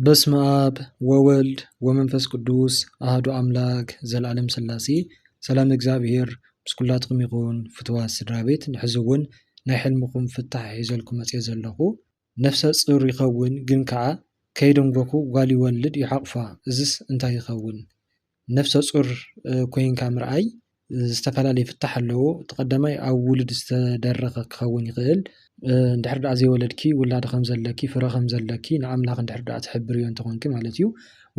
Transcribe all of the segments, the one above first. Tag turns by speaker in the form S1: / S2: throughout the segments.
S1: በስመ ኣብ ወወልድ ወመንፈስ ቅዱስ ኣህዱ ኣምላክ ዘላለም ስላሴ ሰላም እግዚኣብሔር ምስ ኩላትኩም ይኹን ፍትዋት ስድራቤት ንሕዚ እውን ናይ ሕልምኹም ፍታሕ ሒዘልኩም መፅየ ዘለኹ ነፍሰ ፁር ይኸውን ግን ከዓ ከይደንጎኹ ጓል ይወልድ ይሓቑፋ እዝስ እንታይ ይኸውን ነፍሰ ፁር ኮይንካ ምርኣይ ዝተፈላለዩ ፍታሕ ኣለዎ። እቲ ቀዳማይ ኣብ ውሉድ ዝተደረኸ ክኸውን ይኽእል። እንድሕር ደኣ ዘይወለድኪ ውላድ ከም ዘለኪ ፍረ ከም ዘለኪ ንኣምላኽ እንድሕር ደኣ ተሕብርዮ እንተኾይንኪ ማለት እዩ።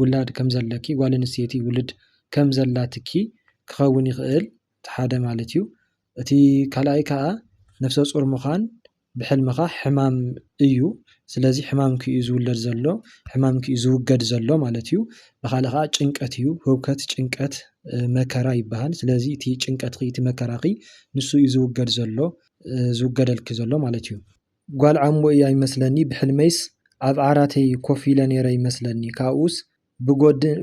S1: ውላድ ከም ዘለኪ ጓል ኣንስተይቲ ውሉድ ከም ዘላትኪ ክኸውን ይኽእል እቲ ሓደ ማለት እዩ። እቲ ካልኣይ ከኣ ነፍሰጹር ምዃን ብሕልምኻ ሕማም እዩ ስለዚ ሕማምኪ እዩ ዝውለድ ዘሎ ሕማምኪ እዩ ዝውገድ ዘሎ ማለት እዩ። ብኻልእ ከኣ ጭንቀት እዩ ህውከት ጭንቀት መከራ ይበሃል ስለዚ እቲ ጭንቀትኺ እቲ መከራኺ ንሱ እዩ ዝውገድ ዘሎ ዝውገደልኪ ዘሎ ማለት እዩ። ጓል ዓሙ እያ ይመስለኒ ብሕልመይስ ኣብ ዓራተይ ኮፍ ኢለ ኔረ ይመስለኒ ካብኡስ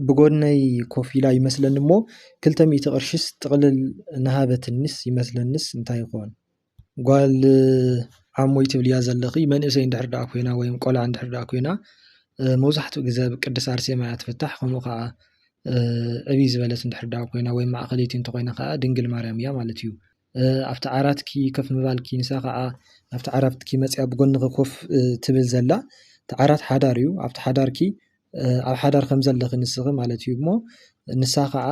S1: ብጎድነይ ኮፍ ኢላ ይመስለኒ እሞ ክልተ ሚእቲ ቅርሽስ ጥቕልል ንሃበትኒስ ይመስለንስ እንታይ ይኾን? ጓል ዓሞይ ትብልያ ዘለኺ መንእሰይ እንድሕር ደኣ ኮይና ወይም ቆልዓ እንድሕር ደኣ ኮይና መብዛሕትኡ ግዘ ኣብ ቅድስት ኣርሴማ እያ ትፍታሕ ከምኡ ከዓ ዕብይ ዝበለት እንድሕር ደኣ ኮይና ወይም ማእኸለይቲ እንተኾይና ከዓ ድንግል ማርያም እያ ማለት እዩ። ኣብቲ ዓራትኪ ከፍ ምባልኪ ንሳ ኸኣ ናብቲ ዓራትኪ መጺኣ ብጎንኺ ኮፍ ትብል ዘላ እቲ ዓራት ሓዳር እዩ ኣብቲ ሓዳርኪ ኣብ ሓዳር ከም ዘለኺ ንስኺ ማለት እዩ እሞ ንሳ ኸኣ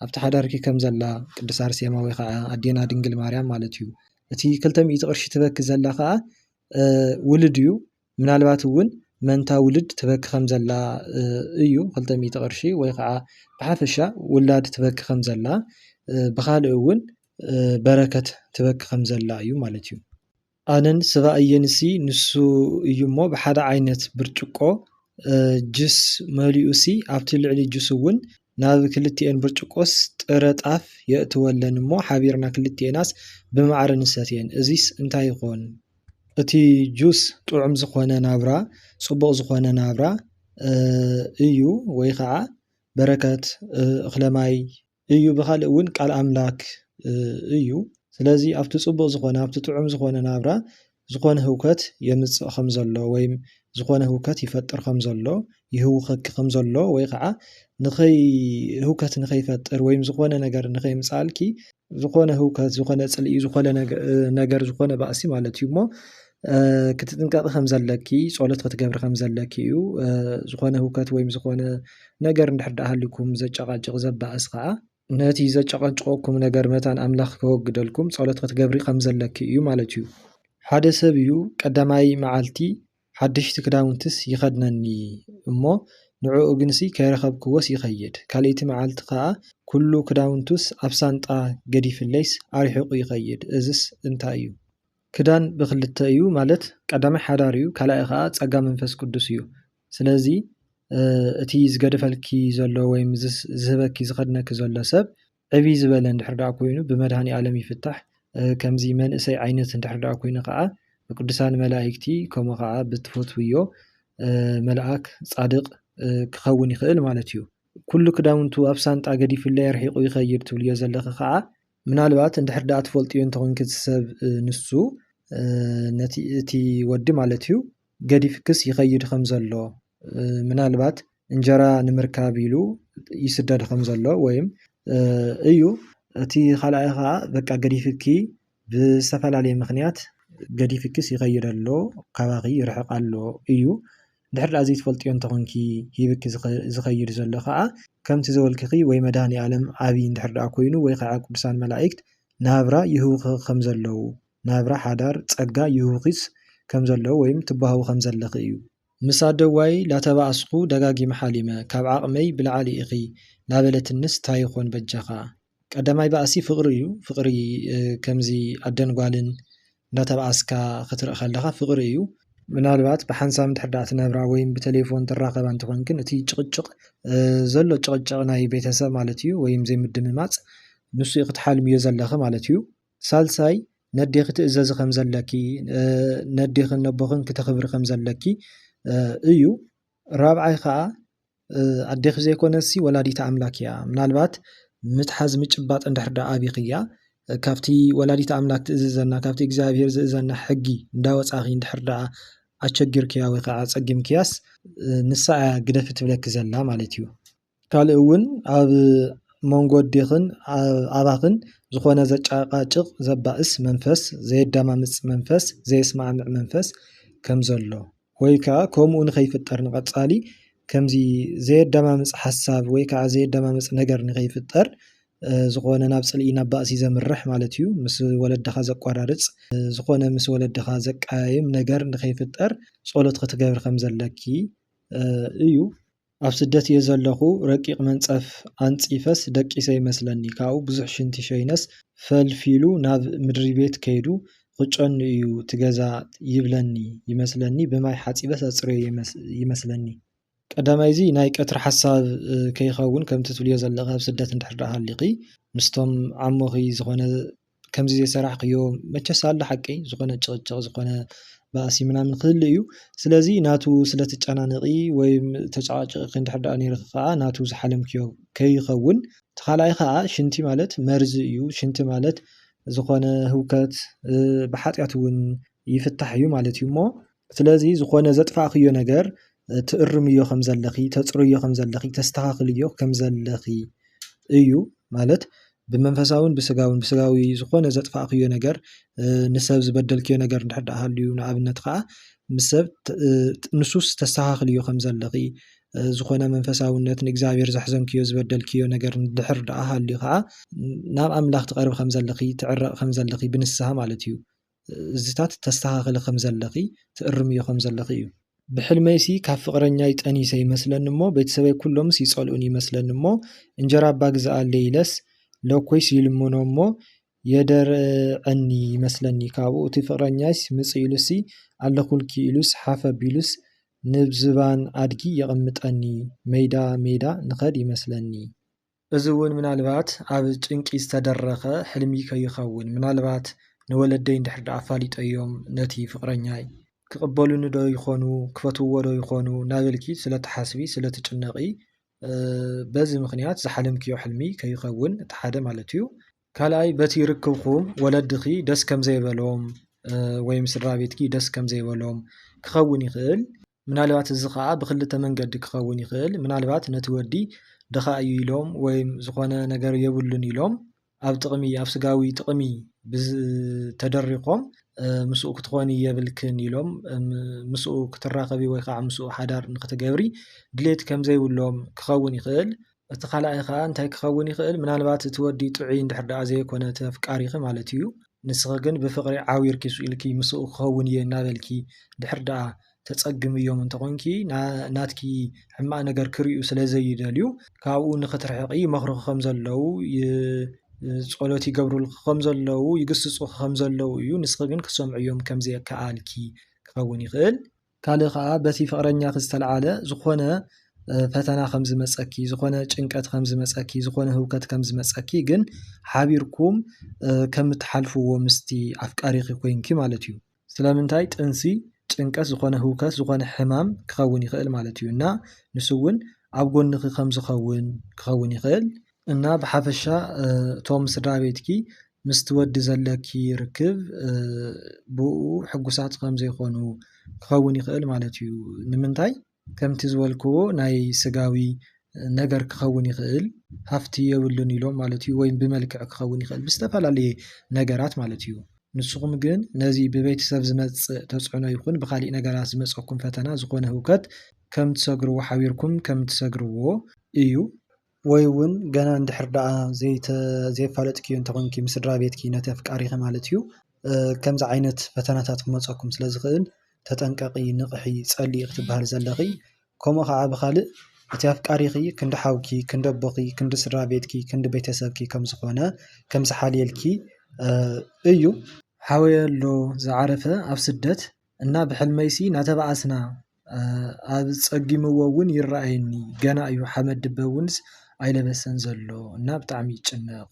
S1: ኣብቲ ሓዳርኪ ከም ዘላ ቅድስት ኣርሴማ ወይ ኸዓ ኣዴና ድንግል ማርያም ማለት እዩ እቲ ክልተ ሚእቲ ቅርሺ ትበኪ ዘላ ኸኣ ውሉድ እዩ። ምናልባት እውን መንታ ውልድ ትበኪ ከም ዘላ እዩ ክልተ ሚእቲ ቅርሺ ወይ ከዓ ብሓፈሻ ውላድ ትበኪ ከም ዘላ ብኻልእ እውን በረከት ትበኪ ከም ዘላ እዩ ማለት እዩ። ኣነን ስባኣየን እሲ ንሱ እዩ እሞ ብሓደ ዓይነት ብርጭቆ ጅስ መሊኡ እሲ ኣብቲ ልዕሊ ጅስ እውን ናብ ክልቲኤን ብርጭቆስ ጥረ ጣፍ የእትወለን እሞ ሓቢርና ክልቲኤናስ ብማዕረ ንሰትየን እዚስ እንታይ ይኾን? እቲ ጁስ ጥዑም ዝኾነ ናብራ ጽቡቕ ዝኾነ ናብራ እዩ ወይ ከዓ በረከት እኽለ ማይ እዩ ብኻልእ እውን ቃል ኣምላክ እዩ ስለዚ ኣብቲ ጽቡቕ ዝኾነ ኣብቲ ጥዑም ዝኾነ ናብራ ዝኾነ ህውከት የምጽእ ከም ዘሎ ወይም ዝኾነ ህውከት ይፈጥር ከም ዘሎ ይህውኸኪ ከም ዘሎ ወይ ኸዓ ንኸይ ህውከት ንኸይፈጥር ወይም ዝኾነ ነገር ንኸይምጻልኪ ዝኾነ ህውከት ዝኾነ ጽልኢ ዝኾነ ነገር ዝኾነ ባእሲ ማለት እዩ እሞ ክትጥንቀቂ ከም ዘለኪ ጸሎት ክትገብሪ ከም ዘለኪ እዩ ዝኾነ ህውከት ወይም ዝኾነ ነገር እንድሕር ድኣ ሃልዩኩም ዘጨቓጭቕ ዘባእስ ኸዓ ነቲ ዘጨቐጭቐኩም ነገር መታን ኣምላኽ ከወግደልኩም ጸሎት ክትገብሪ ከም ዘለኪ እዩ ማለት እዩ። ሓደ ሰብ እዩ ቀዳማይ መዓልቲ ሓደሽቲ ክዳውንትስ ይኸድነኒ እሞ ንዕኡ ግንሲ ከይረኸብክዎስ ይኸይድ፣ ካልኣይቲ መዓልቲ ከኣ ኩሉ ክዳውንቱስ ኣብ ሳንጣ ገዲፍለይስ ኣርሒቑ ይኸይድ፣ እዝስ እንታይ እዩ? ክዳን ብኽልተ እዩ ማለት ቀዳማይ ሓዳር እዩ ካልኣይ ከኣ ጸጋ መንፈስ ቅዱስ እዩ። ስለዚ እቲ ዝገደፈልኪ ዘሎ ወይ ዝህበኪ ዝኸድነኪ ዘሎ ሰብ ዕብ ዝበለ ድሕር ዳኣ ኮይኑ ብመድሃኒ ኣለም ይፍታሕ ከምዚ መንእሰይ ዓይነት እንድሕር ዳኣ ኮይኑ ካኣ ብቅዱሳን መላኢክቲ ከምኡ ካኣ ብትፈትውዮ መልኣክ ጻድቅ ክኸውን ይኽእል ማለት እዩ። ኩሉ ክዳውንቱ ኣብ ሳንጣ ገዲፍለይ ኣርሒቁ ይኸይድ ትብልዮ ዘለኺ ካኣ ምናልባት እንድሕር ዳኣ ትፈልጥዮ እንተ ኮንኪ እቲ ሰብ ንሱ ነቲ እቲ ወዲ ማለት እዩ ገዲፍክስ ይኸይድ ከም ዘሎ ምናልባት እንጀራ ንምርካብ ኢሉ ይስደድ ከም ዘሎ ወይም እዩ እቲ ካልኣይ ከኣ በቃ ገዲፍኪ ብዝተፈላለየ ምክንያት ገዲፍክስ ይኸይድ ኣሎ ካባኺ ይርሕቅ ኣሎ እዩ። ድሕሪ ደኣ ዘይትፈልጥዮ እንተኾንኪ ሂብኪ ዝኸይድ ዘሎ ከኣ ከምቲ ዘበልክኺ ወይ መድሃኒኣለም ዓቢ እንድሕር ደኣ ኮይኑ ወይ ከኣ ቅዱሳን መላእክት ናብራ ይህቡኺ ከም ዘለዉ ናብራ ሓዳር ጸጋ ይህቡኺስ ከም ዘለዉ ወይም ትበሃዊ ከም ዘለኺ እዩ። ምስ ኣደዋይ ላተባኣስኩ ደጋጊመ ሓሊመ ካብ ዓቅመይ ብላዕሊ ኢኺ ላበለትንስ ታይ ይኾን በጃኻ። ቀዳማይ ባእሲ ፍቅሪ እዩ ፍቅሪ ከምዚ ኣደን ጓልን እንዳተባኣስካ ክትርኢ ከለኻ ፍቅሪ እዩ። ምናልባት ብሓንሳብ እንድሕር ደኣ ትነብራ ወይም ብተሌፎን ትራኸባ እንተኾንክን እቲ ጭቅጭቅ ዘሎ ጭቅጭቅ ናይ ቤተሰብ ማለት እዩ ወይም ዘይምድምማጽ ንሱ እዩ ክትሓልምዮ ዘለኺ ማለት እዩ። ሳልሳይ ነዴኺ ትእዘዚ ከም ዘለኪ ነዴኽን ነቦኽን ክተኽብሪ ከም ዘለኪ እዩ። ራብዓይ ከኣ ኣዴኺ ዘይኮነትሲ ወላዲት ኣምላክ እያ። ምናልባት ምትሓዝ ምጭባጥ እንድሕር ደኣ ኣቢኽያ ካብቲ ወላዲት ኣምላክ ትእዝዘና ካብቲ እግዚኣብሄር ዝእዘና ሕጊ እንዳወጻኺ እንድሕር ደኣ ኣቸጊርክያ ወይ ከኣ ኣጸጊምክያስ ንሳ እያ ግደፊ ትብለኪ ዘላ ማለት እዩ። ካልእ እውን ኣብ መንጎ ኣዴኽን ኣባኽን ዝኾነ ዘጨቓጭቕ ዘባእስ መንፈስ ዘየዳማምፅ መንፈስ ዘየስማዕምዕ መንፈስ ከም ዘሎ ወይ ከዓ ከምኡ ንኸይፍጠር ንቐፃሊ ከምዚ ዘየዳማምፅ ሓሳብ ወይ ከዓ ዘየዳማምፅ ነገር ንኸይፍጠር ዝኾነ ናብ ፅልኢ ናብ ባእሲ ዘምርሕ ማለት እዩ። ምስ ወለድኻ ዘቋራርፅ ዝኾነ ምስ ወለድኻ ዘቀያይም ነገር ንኸይፍጠር ፆሎት ኽትገብሪ ከም ዘለኪ እዩ። ኣብ ስደት እየ ዘለኹ ረቂቕ መንጸፍ ኣንጺፈስ ደቂሰ ይመስለኒ ካብኡ ብዙሕ ሽንቲ ሸይነስ ፈልፊሉ ናብ ምድሪቤት ከይዱ ኽጨኑ እዩ ትገዛ ይብለኒ ይመስለኒ ብማይ ሓጺበስ ኣጽርዮ ይመስለኒ። ቀዳማይ እዚ ናይ ቀትሪ ሓሳብ ከይኸውን ከምቲ ትብልዮ ዘለኺ ኣብ ስደት እንድሕር ደኣ ሃሊኺ ምስቶም ዓሞኺ ዝኾነ ከምዚ ዘይሰራሕክዮ መቸስ ኣሎ ሓቂ ዝኾነ ጭቕጭቕ ዝኾነ ባእሲ ምናምን ክህሉ እዩ። ስለዚ ናቱ ስለ ትጨናነቒ ወይ ተጨቓጪቕኪ እንድሕር ደኣ ኔርኪ ከኣ ናቱ ዝሓለምክዮ ከይኸውን። እቲ ካልኣይ ከኣ ሽንቲ ማለት መርዚ እዩ። ሽንቲ ማለት ዝኾነ ህውከት ብሓጢኣት እውን ይፍታሕ እዩ ማለት እዩ እሞ ስለዚ ዝኾነ ዘጥፋእክዮ ነገር ትእርምዮ ከም ዘለኺ ተጽርዮ ከም ዘለኺ ተስተኻኽልዮ ከም ዘለኺ እዩ ማለት ብመንፈሳውን ብስጋውን ብስጋዊ ዝኾነ ዘጥፋእክዮ ነገር ንሰብ ዝበደልክዮ ነገር እንድሕር ድኣ ሃልዩ ንኣብነት ከኣ ምስ ሰብ ንሱስ ተስተኻኽልዮ ከም ዘለኺ ዝኾነ መንፈሳውነት ንእግዚኣብሄር ዘሕዘንክዮ ዝበደልክዮ ነገር እንድሕር ድኣ ሃልዩ ከኣ ናብ ኣምላኽ ትቐርቢ ከም ዘለኺ ትዕረቒ ከም ዘለኺ ብንስሃ ማለት እዩ። እዚታት ተስተኻኽሊ ከም ዘለኺ ትእርምዮ ከም ዘለኺ እዩ። ብሕልመይሲ ካብ ፍቕረኛይ ጠኒሰ ይመስለኒ እሞ ቤተሰበይ ኩሎምስ ይጸልኡኒ ይመስለኒ እሞ እንጀራ እባ ግዘኣለይ ኢለስ ለኮይስ ይልምኖ እሞ የደርዐኒ ይመስለኒ ካብኡ እቲ ፍቕረኛይስ ምጽእ ኢሉሲ ኣለኹልኪ ኢሉስ ሓፍ ኣቢሉስ ንብዝባን ኣድጊ የቕምጠኒ መይዳ መይዳ ንኸድ ይመስለኒ እዚ እውን ምናልባት ኣብ ጭንቂ ዝተደረኸ ሕልሚ ከይኸውን፣ ምናልባት ንወለደይ እንድሕር ደኣ ኣፋሊጠዮም ነቲ ፍቕረኛይ፣ ክቕበሉኒዶ ይኾኑ፣ ክፈትውዎዶ ይኾኑ እናበልኪ ስለ እትሓስቢ፣ ስለ እትጭነቒ፣ በዚ ምኽንያት ዝሓለምክዮ ሕልሚ ከይኸውን እቲ ሓደ ማለት እዩ። ካልኣይ በቲ ርክብኩም ወለድኺ ደስ ከም ዘይበሎም ወይ ምስ ስድራቤትኪ ደስ ከም ዘይበሎም ክኸውን ይኽእል። ምናልባት እዚ ኸኣ ብኽልተ መንገዲ ክኸውን ይኽእል፣ ምናልባት ነቲ ወዲ ድኻ እዩ ኢሎም ወይም ዝኾነ ነገር የብሉን ኢሎም ኣብ ጥቕሚ ኣብ ስጋዊ ጥቕሚ ተደሪኾም ምስኡ ክትኾኒ የብልክን ኢሎም ምስኡ ክትራኸቢ ወይ ከዓ ምስኡ ሓዳር ንክትገብሪ ድሌት ከምዘይብሎም ክኸውን ይኽእል። እቲ ካልኣይ ከኣ እንታይ ክኸውን ይኽእል ምናልባት እቲ ወዲ ጥዑይ እንድሕር ደኣ ዘይኮነ እቲ ኣፍቃሪኺ ማለት እዩ ንስኺ ግን ብፍቕሪ ዓዊርኪ ስኢልኪ ምስኡ ክኸውን እየ እናበልኪ እንድሕር ደኣ ተጸግምዮም እንተኾንኪ ናትኪ ሕማቕ ነገር ክርእዩ ስለዘይደልዩ ካብኡ ንኽትርሕቒ ይመኽሩኺ ከምዘለዉ ጸሎት ይገብሩልኺ ከምዘለዉ ይግስጹኺ ከምዘለዉ እዩ ንስኺ ግን ክትሰምዕዮም ከምዘይከኣልኪ ክኸውን ይኽእል። ካልእ ከኣ በቲ ፍቕረኛኺ ዝተልዓለ ዝኾነ ፈተና ከም ዝመጸኪ፣ ዝኾነ ጭንቀት ከም ዝመጸኪ፣ ዝኾነ ህውከት ከም ዝመጸኪ ግን ሓቢርኩም ከም እትሓልፍዎ ምስቲ ኣፍቃሪኺ ኮይንኪ ማለት እዩ። ስለምንታይ ጥንሲ ጭንቀት ዝኾነ ህውከት ዝኾነ ሕማም ክኸውን ይኽእል ማለት እዩ እና ንሱ እውን ኣብ ጎንኺ ከም ዝኸውን ክኸውን ይኽእል። እና ብሓፈሻ እቶም ስድራ ቤትኪ ምስቲ ወዲ ዘለኪ ርክብ ብእኡ ሕጉሳት ከም ዘይኮኑ ክኸውን ይኽእል ማለት እዩ። ንምንታይ ከምቲ ዝበልክዎ ናይ ስጋዊ ነገር ክኸውን ይኽእል ሃፍቲ የብሉን ኢሎም ማለት እዩ ወይም ብመልክዕ ክኸውን ይኽእል ብዝተፈላለየ ነገራት ማለት እዩ። ንስኹም ግን ነዚ ብቤተሰብ ዝመጽእ ተጽዕኖ ይኹን ብኻልእ ነገራት ዝመጸኩም ፈተና ዝኾነ ህውከት ከም ትሰግርዎ ሓቢርኩም ከም ትሰግርዎ እዩ። ወይ እውን ገና እንድሕር ደኣ ዘይፋለጥኪ እንተ ኾንኪ ምስ ስድራ ቤትኪ ነቲ ኣፍቃሪኺ ማለት እዩ ከምዚ ዓይነት ፈተናታት ክመጸኩም ስለ ዝኽእል ተጠንቀቂ ንቕሒ ጸልዪ ክትብሃሊ ዘለኺ ከምኡ ኸኣ ብኻልእ እቲ ኣፍቃሪኺ ክንዲ ሓውኪ ክንዲ ኣቦኺ ክንዲ ስድራ ቤትኪ ክንዲ ቤተሰብኪ ከም ዝኾነ ከም ዝሓልየልኪ እዩ። ሓወይ ኣሎ ዝዓረፈ ኣብ ስደት። እና ብሕልመይሲ ናተባኣስና ኣጸጊምዎ ውን ይረኣየኒ ገና እዩ ሓመድ ድበ ውንስ ኣይለበሰን ዘሎ እና ብጣዕሚ ይጭነቅ።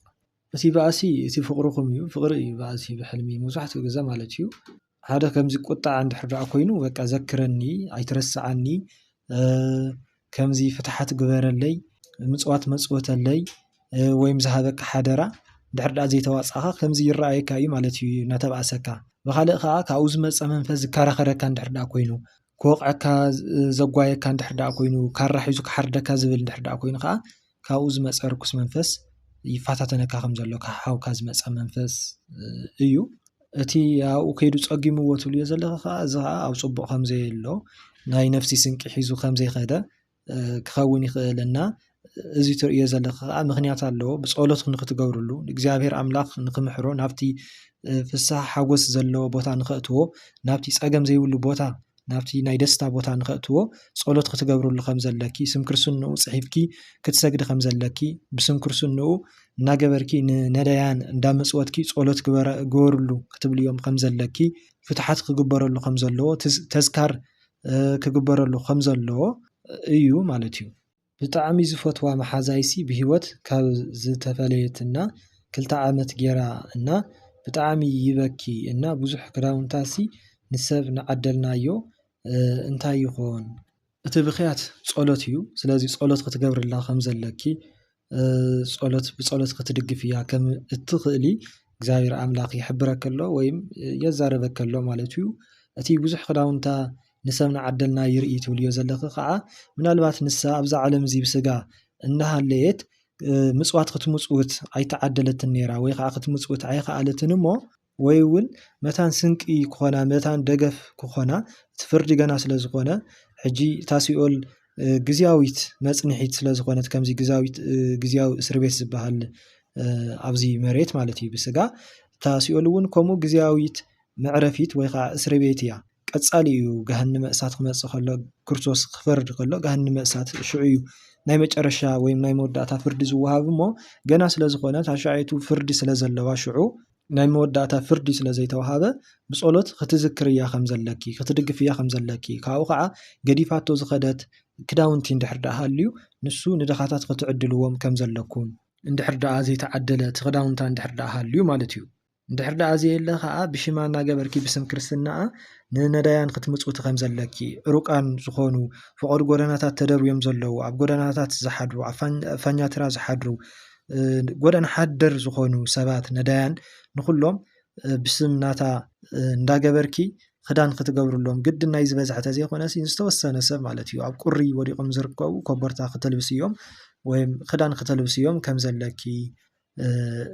S1: እቲ ባእሲ እቲ ፍቅርኩም እዩ ፍቅሪ እዩ ባእሲ ብሕልሚ መብዛሕትኡ ግዘ ማለት እዩ ሓደ ከምዚ ቁጠዐ እንድሕር ኮይኑ በቃ ዘክረኒ ኣይትረስዓኒ። ከምዚ ፍትሓት ግበረለይ ምፅዋት መፅውተለይ ወይም ዝሃበካ ሓደራ ድሕሪ ድኣ ዘይተዋፃእኻ ከምዚ ይረኣየካ እዩ ማለት እዩ እናተባእሰካ ብኻልእ ከዓ ካብኡ ዝመፀ መንፈስ ዝከራኸረካ እንድሕር ድኣ ኮይኑ ክወቕዐካ ዘጓየካ እንድሕር ድኣ ኮይኑ ካራ ሒዙ ክሓርደካ ዝብል እንድሕር ድኣ ኮይኑ ከዓ ካብኡ ዝመፀ ርኩስ መንፈስ ይፈታተነካ ከም ዘሎ ካብ ሓውካ ዝመፀ መንፈስ እዩ። እቲ ኣብኡ ከይዱ ፀጊምዎ ትብልዮ ዘለኺ ከዓ እዚ ከዓ ኣብ ፅቡቅ ከም ዘየሎ ናይ ነፍሲ ስንቂ ሒዙ ከም ዘይኸደ ክኸውን ይኽእል እና እዚ ትርእዮ ዘለኺ ከዓ ምኽንያት ኣለዎ ብፀሎት ንኽትገብርሉ እግዚኣብሔር ኣምላኽ ንኽምሕሮ ናብቲ ፍስሃ ሓጎስ ዘለዎ ቦታ ንኸእትዎ ናብቲ ፀገም ዘይብሉ ቦታ ናብቲ ናይ ደስታ ቦታ ንኸእትዎ ጸሎት ክትገብርሉ ከም ዘለኪ ስም ክርስንኡ ጽሒፍኪ ክትሰግዲ ከም ዘለኪ ብስም ክርስንኡ እናገበርኪ ንነዳያን እንዳመጽወትኪ ጸሎት ግበርሉ ክትብልዮም ከም ዘለኪ ፍትሓት ክግበረሉ ከም ዘለዎ ተዝካር ክግበረሉ ከም ዘለዎ እዩ ማለት እዩ። ብጣዕሚ ዝፈትዋ መሓዛይሲ ብሂወት ካብ ዝተፈለየትና ክልተ ዓመት ጌራ እና ብጣዕሚ ይበኪ እና ብዙሕ ክዳውንታሲ ንሰብ ንዓደልናዮ እንታይ ይኾን? እቲ ብኽያት ጸሎት እዩ ስለዚ ጸሎት ክትገብርላ ከም ዘለኪ ጸሎት ብጸሎት ክትድግፍያ ከም እትኽእሊ እግዚኣብሔር ኣምላኽ ይሕብረኪ ኣሎ ወይም የዛርበኪ ኣሎ ማለት እዩ። እቲ ብዙሕ ክዳውንታ ንሰብ ንዓደልና ይርኢ ትብልዮ ዘለኺ ከኣ ምናልባት ንሳ ኣብዛ ዓለም እዚ ብስጋ እናሃለየት ምጽዋት ክትምጽውት ኣይተዓደለትን ነይራ ወይ ከኣ ክትምጽውት ኣይኸኣለትን እሞ ወይ እውን መታን ስንቂ ክኾና መታን ደገፍ ክኾና እቲ ፍርዲ ገና ስለ ዝኾነ ሕጂ እታ ሲኦል ግዝያዊት መጽንሒት ስለ ዝኾነት ከምዚ ግዛዊት ግዝያዊ እስር ቤት ዝበሃል ኣብዚ መሬት ማለት እዩ ብስጋ እታ ሲኦል እውን ከምኡ ግዝያዊት መዕረፊት ወይ ከዓ እስር ቤት እያ። ቀጻሊ እዩ ገሃነመ እሳት ክመጽእ ከሎ ክርስቶስ ክፈርድ ከሎ ገሃነመ እሳት ሽዑ እዩ ናይ መጨረሻ ወይ ናይ መወዳእታ ፍርዲ ዝወሃብ እሞ ገና ስለ ዝኾነ ታሻዓይቱ ፍርዲ ስለ ዘለዋ ሽዑ ናይ መወዳእታ ፍርዲ ስለ ዘይተዋሃበ ብጸሎት ክትዝክርያ ከም ዘለኪ ክትድግፍያ ከም ዘለኪ ካብኡ ከዓ ገዲፋቶ ዝኸደት ክዳውንቲ እንድሕር ደኣ ሃልዩ ንሱ ንድኻታት ክትዕድልዎም ከም ዘለኩም እንድሕር ደኣ ዘይተዓደለ እቲ ክዳውንታ እንድሕር ደኣ ሃልዩ ማለት እዩ እንድሕር ደኣ ዘየለ ከኣ ብሽማ እናገበርኪ ብስም ክርስትናኣ ንነዳያን ክትምጽውቲ ከም ዘለኪ፣ ዕሩቃን ዝኾኑ ፍቖዱ ጎደናታት ተደርብዮም ዘለዉ፣ ኣብ ጎደናታት ዝሓድሩ፣ ኣብ ፋኛትራ ዝሓድሩ፣ ጎደና ሓደር ዝኾኑ ሰባት ነዳያን ንኹሎም ብስም ናታ እንዳገበርኪ ክዳን ክትገብርሎም ግድን ናይ ዝበዝሐ ተዘይኮነሲ ዝተወሰነ ሰብ ማለት እዩ ኣብ ቁሪ ወዲቆም ዝርከቡ ኮቦርታ ክተልብስዮም ወይም ክዳን ክተልብስዮም ከም ዘለኪ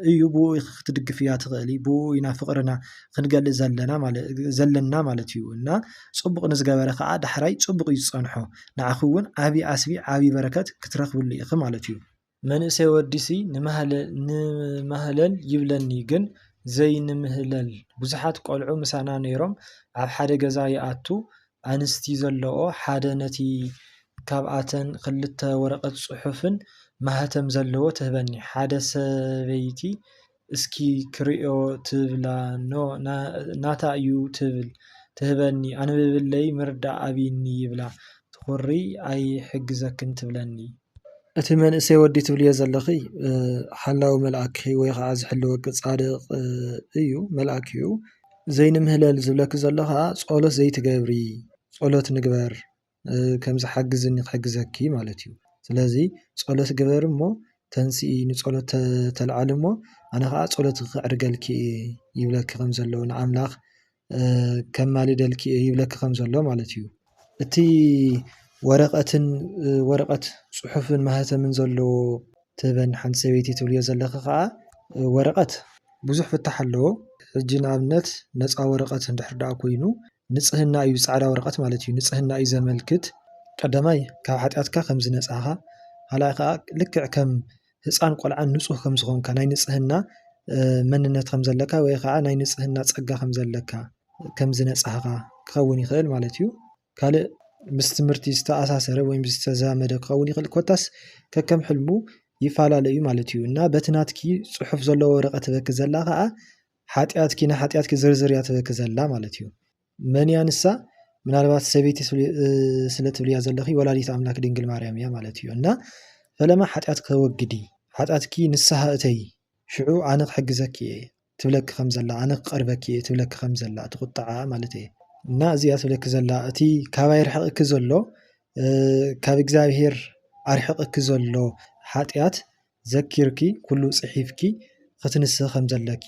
S1: እዩ ብኡ ክትድግፍያ ትኽእሊ ብኡ ኢና ፍቕርና ክንገልእ ዘለና ማለት እዩ እና ፅቡቕ ንዝገበረ ከዓ ዳሕራይ ፅቡቕ እዩ ዝፀንሖ ንዓኺ እውን ዓብዪ ዓስቢ ዓብዪ በረከት ክትረኽብሉ ኢኺ ማለት እዩ። መንእሰይ ወዲሲ ንማህለል ይብለኒ ግን ዘይንምህለል ብዙሓት ቆልዑ ምሳና ነይሮም ኣብ ሓደ ገዛ ይኣቱ ኣንስቲ ዘለኦ ሓደ ነቲ ካብኣተን ክልተ ወረቐት ጽሑፍን ማህተም ዘለዎ ትህበኒ ሓደ ሰበይቲ እስኪ ክርእዮ ትብላ ን ናታ ዩ ትብል ትህበኒ ኣንብብለይ ምርዳእ ኣብይኒ ይብላ ትኹሪ ኣይሕግዘክን ትብለኒ እቲ መንእሰይ ወዲ ትብልዮ ዘለኺ ሓላዊ መልኣኪ ወይ ከዓ ዝሕልወኪ ፃድቕ እዩ መልኣክ እዩ። ዘይንምህለል ዝብለኪ ዘሎ ኸዓ ፆሎት ዘይትገብሪ ፆሎት ንግበር ከምዚ ሓግዝኒ ክሕግዘኪ ማለት እዩ። ስለዚ ፆሎት ግበሪ እሞ ተንስኢ ንፆሎት ተልዓሊ እሞ ኣነ ኸዓ ፆሎት ከዕርገልኪ እየ ይብለኪ ከም ዘሎ ንኣምላኽ። ከማልደልኪ እየ ይብለኪ ከም ዘሎ ማለት እዩ። እቲ ወረቀትን ወረቀት ጽሑፍን ማህተምን ዘለዎ ትበን ሓንቲ ሰበይቲ ትብልዮ ዘለኺ ከኣ ወረቀት ብዙሕ ፍታሕ ኣለዎ። ሕጂ ንኣብነት ነፃ ወረቀት እንድሕር ደኣ ኮይኑ ንጽህና እዩ ጻዕዳ ወረቀት ማለት እዩ ንጽህና እዩ ዘመልክት። ቀዳማይ ካብ ሓጢኣትካ ከም ዝነጻኻ ካልኣይ ከኣ ልክዕ ከም ህፃን ቆልዓ ንፁህ ከም ዝኾንካ ናይ ንፅህና መንነት ከም ዘለካ ወይ ከዓ ናይ ንፅህና ፀጋ ከም ዘለካ ከም ዝነፃህኻ ክኸውን ይኽእል ማለት እዩ። ካልእ ምስ ትምህርቲ ዝተኣሳሰረ ወይ ዝተዛመደ ክኸውን ይኽእል ኮታስ ከከም ሕልሙ ይፈላለዩ ማለት እዩ እና በቲ ናትኪ ፅሑፍ ዘለዎ ወረቐት ትበኪ ዘላ ከዓ ሓጢኣትኪ ንሓጢኣትኪ ዝርዝር እያ ትበኪ ዘላ ማለት እዩ። መን እያ ንሳ ምናልባት ሰበይቲ ስለ ትብልያ ዘለኺ ወላዲት ኣምላክ ድንግል ማርያም እያ ማለት እዩ እና ፈለማ ሓጢኣት ከወግዲ ሓጢኣትኪ ንስሓ እተይ ሽዑ ኣነ ክሕግዘኪ እየ ትብለኪ ከም ዘላ ኣነ ክቐርበኪ እየ ትብለኪ ከም ዘላ እቲ ቁጥዓ ማለት እየ እና እዚኣ ትብለኪ ዘላ እቲ ካባይ ርሕቕኪ ዘሎ ካብ እግዚኣብሄር ኣርሕቕኪ ዘሎ ሓጢኣት ዘኪርኪ ኩሉ ጽሒፍኪ ክትንስሂ ከም ዘለኪ